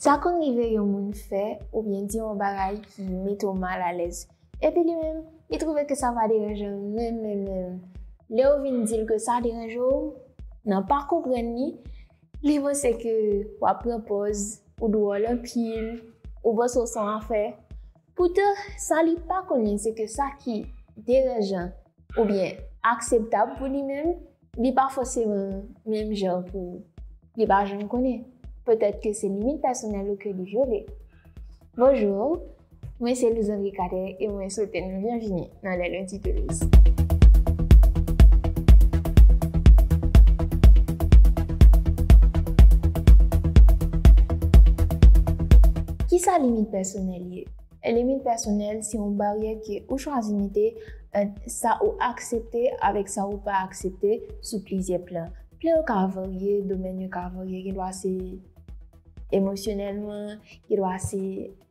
Sa konn rive yon moun fè oubyen di yon bagay ki mete w mal alèz, epi li menm, li twouve ke sa pa deranje l menm menm menm. Lè w vin di l ke sa deranje w, nan pa konprann li, li panse ke w ap pran pòz, ou dwòl anpil, ou panse w s on afè. Poutan, sa li pa konnen se ke sa ki deranjan oubyen akseptab pou li menm, Li pa fòseman menm jan pou ou. Li pa janm konnen. Petèt ke se limit pèsonèl ou ke li vyole. Bonjour, mwen se Luzandri Cadet e mwen swete nou byenvini nan Les Lundis de Luz. Kisa limit pèsonèl ye? Limit pèsonèl se yon baryè ke ou chwazi mete ant sa ou aksepte avèk sa ou pa aksepte sou plizyè plan. Plan yo ka varye, domèn yo ka varye, gen dwa se emosyonèlman, gen dwa se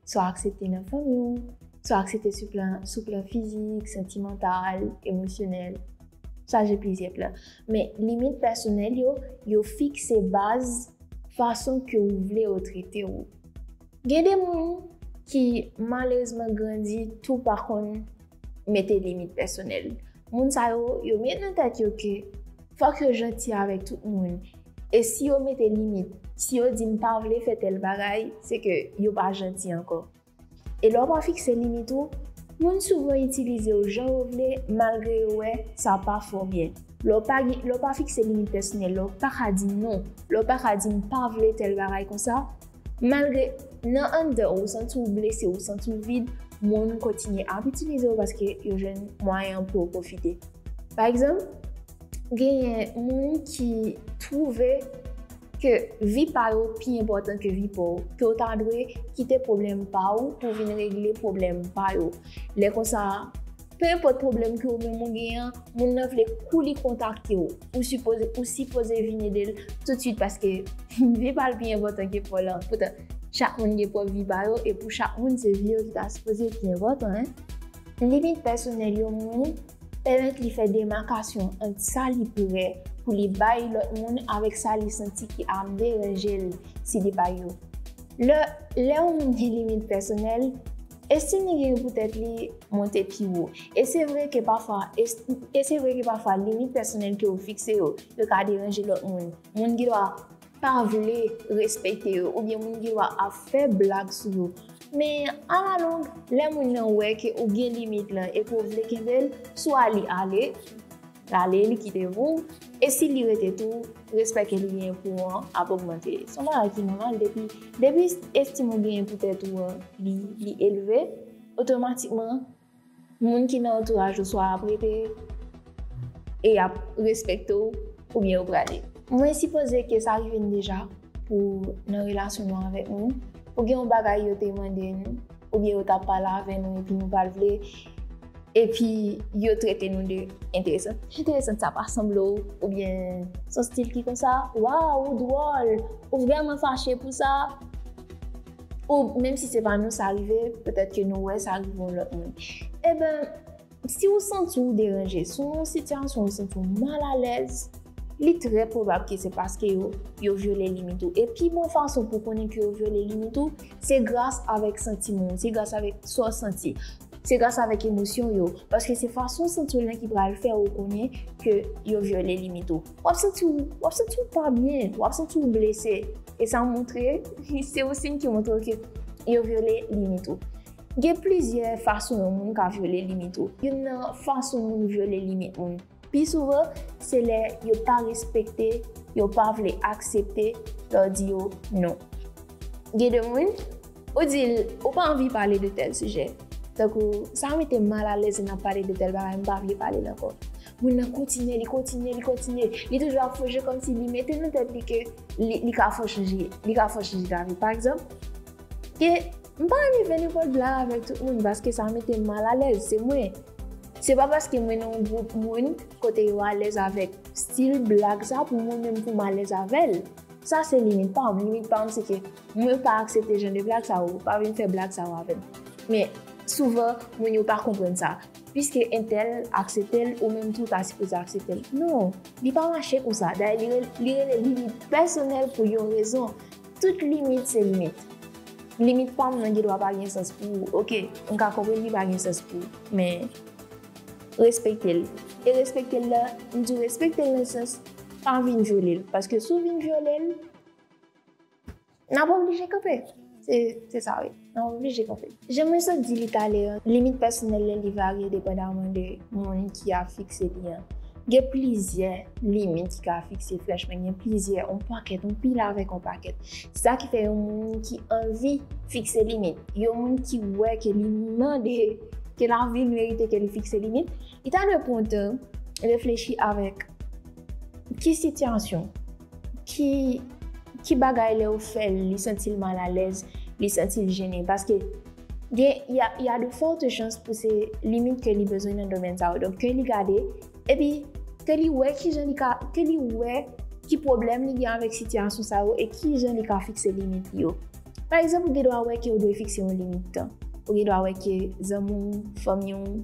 sa ou aksepte nan fanmi ou, sa ou aksepte sou plan, sou plan fizik, santimantal, emosyonèl, sa gen plizyè plan. Men limit pèsonèl yo, yo fikse baz fason ke ou vle yo trete ou. Gen de moun ki malerezman grandi tou pa konn mete limit pèsonèl. Moun sa yo, yo met nan tèt yo ke fòk yo janti avèk tout moun. E si yo mete limit, si yo di m pa vle fè tèl bagay, se ke yo pa janti ankò. E lè w pa fikse limit ou, moun souvan itilize w jan yo vle malgre yo wè sa pa fè w byen. Lè w pa gen, lè w pa fikse limit pèsonèl, lè w paka di non, lè w paka di m pa vle tèl bagay konsa, malgre nan anndan ou ou santi w blese, ou santi w vid, moun kontinye ap itilize w paske yo jwenn mwayen pou yo pwofite. Pa egzanp. Genyen moun ki twouve ke vi pa yo pi enpòtan ke vi pa w, ke w ta dwe kite pwoblèm pa w pou w vin regle pwoblèm pa yo. Lè konsa, pe enpòt pwoblèm ke ou menm ou gen an, moun nan vle kou li kontakte w, ou sipoze ou sipoze vin ede l toutswit paske vi pa l pi enpòtan ke pa w lan. Poutan, chak moun gen pwòp vi pa yo e pou chak moun se vi yo ki ta sipoze pi enpòtan. Limit pèsonèl yo Moun Pèmèt li fè demakasyon ant sa li prè pou li bay lòt moun avèk sa li santi ki ap deranje l si li bay yo. Lè lè yon moun gen limit pèsonèl, estim li genyen pou tèt li monte pi wo. E se vre ke pafwa e se vre ke pafwa limit pèsonèl ke ou fikse yo, yo ka deranje lòt moun. Moun gendwa pa vle respekte yo oubyen moun gen dwa ap fè blag sou yo. Men, alalong, lè moun nan wè ke ou gen limit lan epi ou vle kenbe l, swa li ale, l ale, li kite pou ou, e si li rete tou, respè ke li genyen pou ou an ap ogmante. Se yon bagay ki nòmal depi, depi estim ou genyen pou tèt ou an li elve, otomatikman, Moun ki nan antouraj ou swa ap rete e yap respekte w oubyen yo prale. Mwen sipoze ke sa rive n deja pou nan relasyon nou avèk moun, pou gen yon bagay yo te mande n oubyen yo ta pale avè nou epi nou pat vle epi yo trete nou de enteresant. Enteresant sa pa sanble w oubyen son stil ki konsa? Waw ou dwòl, ou vrèman fache pou sa? Ou menm si se pa nou sa rive, petèt ke nou wè sa rive yon lòt moun. Eben, si ou santi ou deranje, si ou nan yon sitiyasyon ou santi ou mal alèz, li trè pwobab ke se paske yo, yo vyole limit ou. E pi bon fason pou konnen ke yo vyole limit ou, se gras avèk santiman ou, se gras avèk sa ou santi. Se gras avèk emosyon yo. Paske se fason ou santi ou lan ki pral fè ou konnen ke yo vyole limit ou. Wap santi ou, wap santi ou pa byen, wap santi ou blese. E sa montre, se yon siy ki montre w ke yo vyole limit ou. Gen plizyè fason yon moun ka vyole limit ou. Youn nan fason moun vyole limit moun pi souvan, se lè yo pa respekte, yo pa vle aksepte lè w di yo non. Gen de moun, ou di l ou pa anvi pale de tèl sijè, tankou sa mete m mal alèz lè n ap pale de tèl bagay, m pa vle pale l ankò. Moun nan kontinye, li kontinye, li kontinye. Li toujou ap fòje kòm si li mete nan tèt li ke li ka fò chanje, li ka fò chanje lavi. Pa egzanp, ke m pa anvi fè nenpòt blag avèk tout moun paske sa mete m mal alèz. Se mwen. Se pa paske mwen nan yon gwoup moun kote yo alèz avèk stil blag sa pou mwen menm pou m alèz avè l. Sa se limit pa m. Limit pa m se ke mwen pa aksepte jan de blag sa yo. Pa vin fè blag sa yo avè m. Men, souvan, moun yo pa konprann sa. Piske entèl aksepte l ou menm tou ta sipoze aksepte l. Non, li pa mache konsa. Dayè li rele limit pèsonèl pou yon rezon. Tout limit se limit. Limit pa m nan gen dwa pa gen sans pou ou. Ok, m ka konprann li pa gen sans pou ou. Men, respekte l. E respekte l la, m di w respekte l nan sans pa vin vyole l. Paske si w vin vyole l. Nap oblije kanpe. Se sa wi. Nap oblije kanpe. Jan Moussa di li talè an, limit pèsonèl lè li varye depandaman de moun ki ap fikse li an. Gen plizyè limit ki ka fikse franchman, gen plizyè, on pakèt, on pil avèk on pakèt. Se sa ki fè yon moun ki anvi fikse limit, yon moun ki wè ke li mande, ke lavi merite ke li fikse limit, li ta dwe pran tan reflechi avèk ki sitiyasyon, ki ki bagay lè ou fèl li santil mal alèz li santil jennen paske gen ya ya de forte chans pou se limit ke li bezwen nan domèn sa yo donk ke li gade epi ke li wè ki jan li ka ke li wè ki pwoblèm li gen avèk sitiyasyon sa yo e ki jan li ka fikse limit li yo pa egzanp ou gen dwa wè ke ou dwe fikse yon limit tan ou gen dwa wè ke zanmi w fanmi w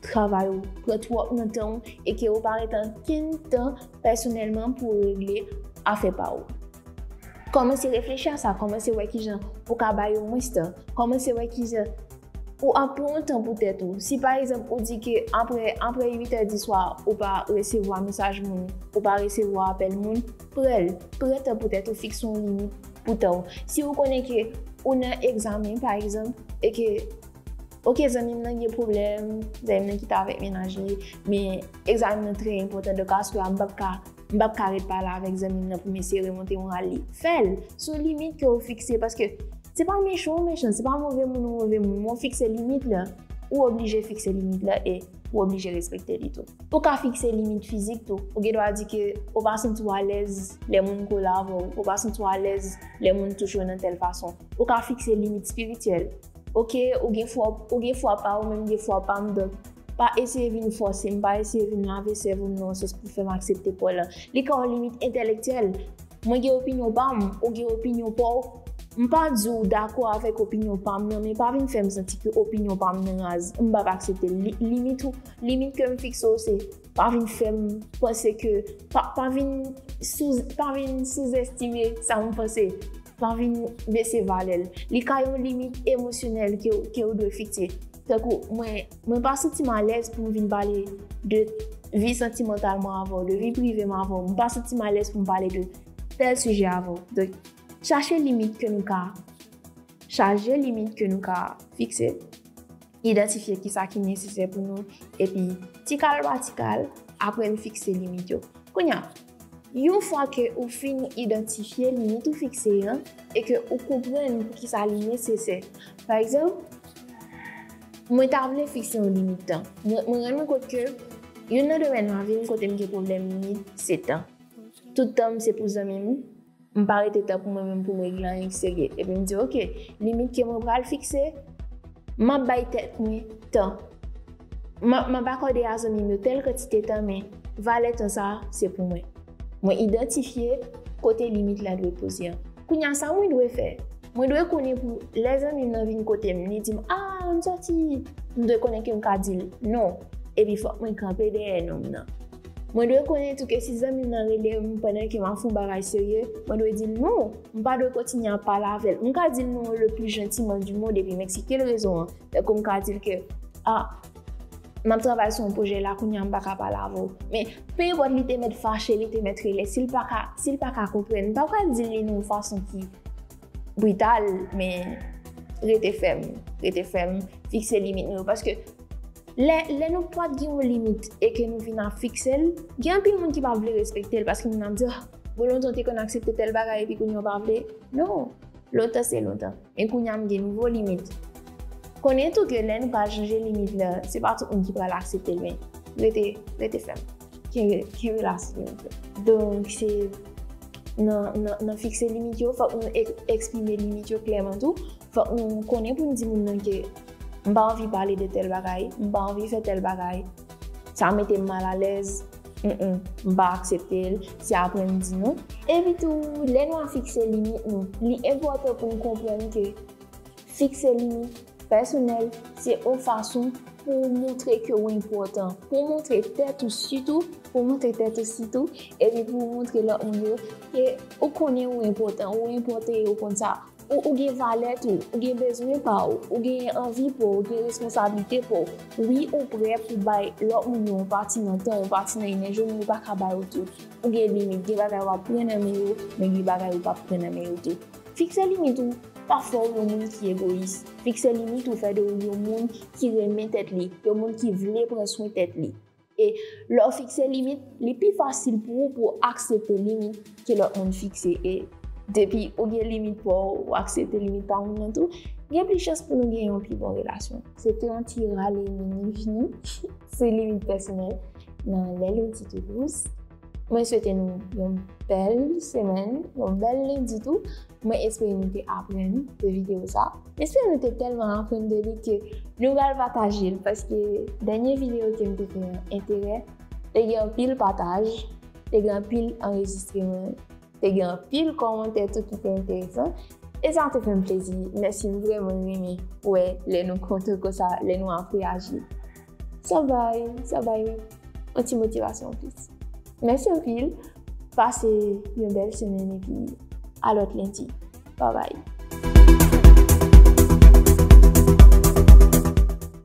travay ou pran twòp nan tan ou e ke ou pa ret ankenn tan pèsonèlman pou regle afè pa ou. Kòmanse reflechi a sa, kòmanse wè kijan ou ka bay yo mwens tan, kòmanse wè kijan ou ap pran yon tan pou tèt ou. Si pa egzanp ou di ke apre apre 8 è di swa ou pa resevwa mesaj moun, ou pa resevwa apèl moun, prèl, pran tan pou tèt ou, fikse yon limit pou tan ou. Si ou konnen ke ou nan egzamen pa egzanp e ke. Ok zanmi m nan gen pwoblèm, zanmi m nan kite avèk mennaj li, men egzamen m nan trè enpòtan donk astwè a m pap ka, m pap ka ret pale avèk zanmi m nan pou m eseye remonte moral li. Fè l! Se yon limit ke ou fikse paske se pa mechan ou mechan, se pa move moun ou move moun men ou fikse limit la. Ou oblije fikse limit la e ou oblije respekte li tou. Ou ka fikse limit fizik tou. Ou gen dwa di ke ou pa santi w alèz lè moun kole avè w, ou pa santi w alèz lè moun touche w nan tèl fason. Ou ka fikse limit espirityèl. Ok ou gen fwa ou gen fwa pa ou menm gen fwa pa m donk pa eseye vin fòse m pa eseye vin lave sèvo m nan yon sans pou fè m aksepte pa w lan li ka yon limit entèlektyèl mwen gen opinyon pa m ou gen opinyon pa w m pa di w dakò avèk opinyon pa m nan men pa vin fè m santi ke opinyon pa m nan raz m p ap aksepte l limit ou limit ke m fikse w se. Pa vin fèm panse ke, pa vin souzestime sa mwen panse, pa vin bese valè l. Li ka yon limit emosyonèl ke ou dwe fikse. Tankou mwen pa santi m alèz pou m vin pale de vi santimantal mwen avè w, de vi prive mwen avè w. Mwen pa santi m alèz pou m pale de tèl sijè avè w. Donk, chache limit ke nou ka, chaje limit ke nou ka fikse. Idantifye ki sa ki nesesè pou nou epi ti kal pa ti kal, apre n fikse limit yo. Kounya, yon fwa ke ou fin idantifye limit ou fikse an e ke ou konprann pou ki sa li nesesè. Pa egzanp, mwen ta vle fikse yon limit tan. Mwen rann mwen kont ke youn nan domèn lavi m kote m gen pwoblèm limit se tan. Tout tan m se pou zanmi m, M pa rete tan pou mwen menm pou m regle anyen ki serye. Epi m di ok, limit ke mwen pral fikse, m ap bay tèt mwen tan. M ap akòde a zanmi m yo tèl kantite tan men valè tan sa a se pou mwen. Mwen idantifye kote limit la dwe poze an. Kounye a sa mwen dwe fè? Mwen dwe konnen pou lè zanmi m nan vin kote m li di m a ann sòti, m dwe konnen ke m ka di l non epi fòk mwen kanpe dèyè non m nan. Mwen dwe konnen tou ke si zanmi m nan rele m pandan ke m ap fè yon bagay serye, mwen dwe di l non! M pa dwe kontinye ap pale avè l. M ka di l non le pli jantiman di mond epi m eksplike l rezon an. Tankou m ka di l ke, A, m ap travay sou yon pwojè la kounye a m pa ka pale avè w. Men, pe enpòt li te mèt fache, li te mèt rele, si l pa ka, si l pa ka konprann, m pa pral di l li nan yon fason ki. brital men rete fèm, rete fèm, fikse limit nou yo paske lè lè nou pat gen yon limit e ke nou vin ap fikse l, gen anpil moun ki pa vle respekte l paske moun ap di oh bon lontan ou te konn aksepte tèl bagay epi kounye a ou pa vle, non lontan se lontan men kounye a m gen nouvo limit. Konnen tou ke lè nou pa chanje limit la se pa tout moun ki pral aksepte l men rete, rete fèm. Ki relasyon yo fè? Donk se nan fikse limit yo, fòk nou eksprime limit yo klèman tou. Fòk nou konnen pou nou di moun nan ke m pa anvi pale de tèl bagay, m pa anvi fè tèl bagay, sa mete m mal alèz, m pa aksepte l, se apre m di nou. Epi tou, lè nou a fikse limit nou, li enpòtan pou nou konprann ke fikse limit Pèsonèl, se ou fason pou ou montre ke ou enpòtan, pou ou montre tèt ou sitou, pou ou montre tèt ou sitou, epi pou ou montre lòt moun yo ke ou konnen ou enpòtan, ou enpòte e ou konn sa, ou ou gen valè tou, ou gen bezwen pa ou, ou genyen anvi pou ou, gen responsablite pou ou, wi ou prè pou ou bay lòt moun yo yon pati nan tan ou, yon pati nan enèji ou men ou pa ka bay yo tout, ou gen limit, gen bagay wap pran nan men yo, men gen bagay ou pap pran nan men yo tou. Fikse limit ou pa fè w yon moun ki egoyis. Fikse limit ou fè de ou yon moun ki renmen tèt li, yon moun ki vle pran swen tèt li. E lè w fikse limit, li pi fasil pou ou pou w aksepte limit ke lòt moun fikse. E depi ou gen limit pa w, ou aksepte limit pa moun nan tou, gen plis chans pou nou gen yon pi bon relasyon. Se te yon ti rale mini vini sou limit pèsonèl nan Lè Loti Tou Dous. Mwen swete nou yon bèl semèn, yon bèl lendi tou. Mwen espere nou te aprann de videyo sa. Mwen espere nou te tèlman aprann de li ke nou pral pataje l paske dènye videyo ke m te fè an enterè te gen anpil pataj, te gen anpil anrejistreman, te gen anpil kòmantè tou ki te enteresan e sa te fè m plezi. Mèsi, m vrèman renmen wè lè nou kontan konsa, lè nou ap reyaji. Sa bay, sa bay yon ti motivasyon anplis. Mèsi anpil, pase yon bèl semèn epi a lòt lendi. Babay!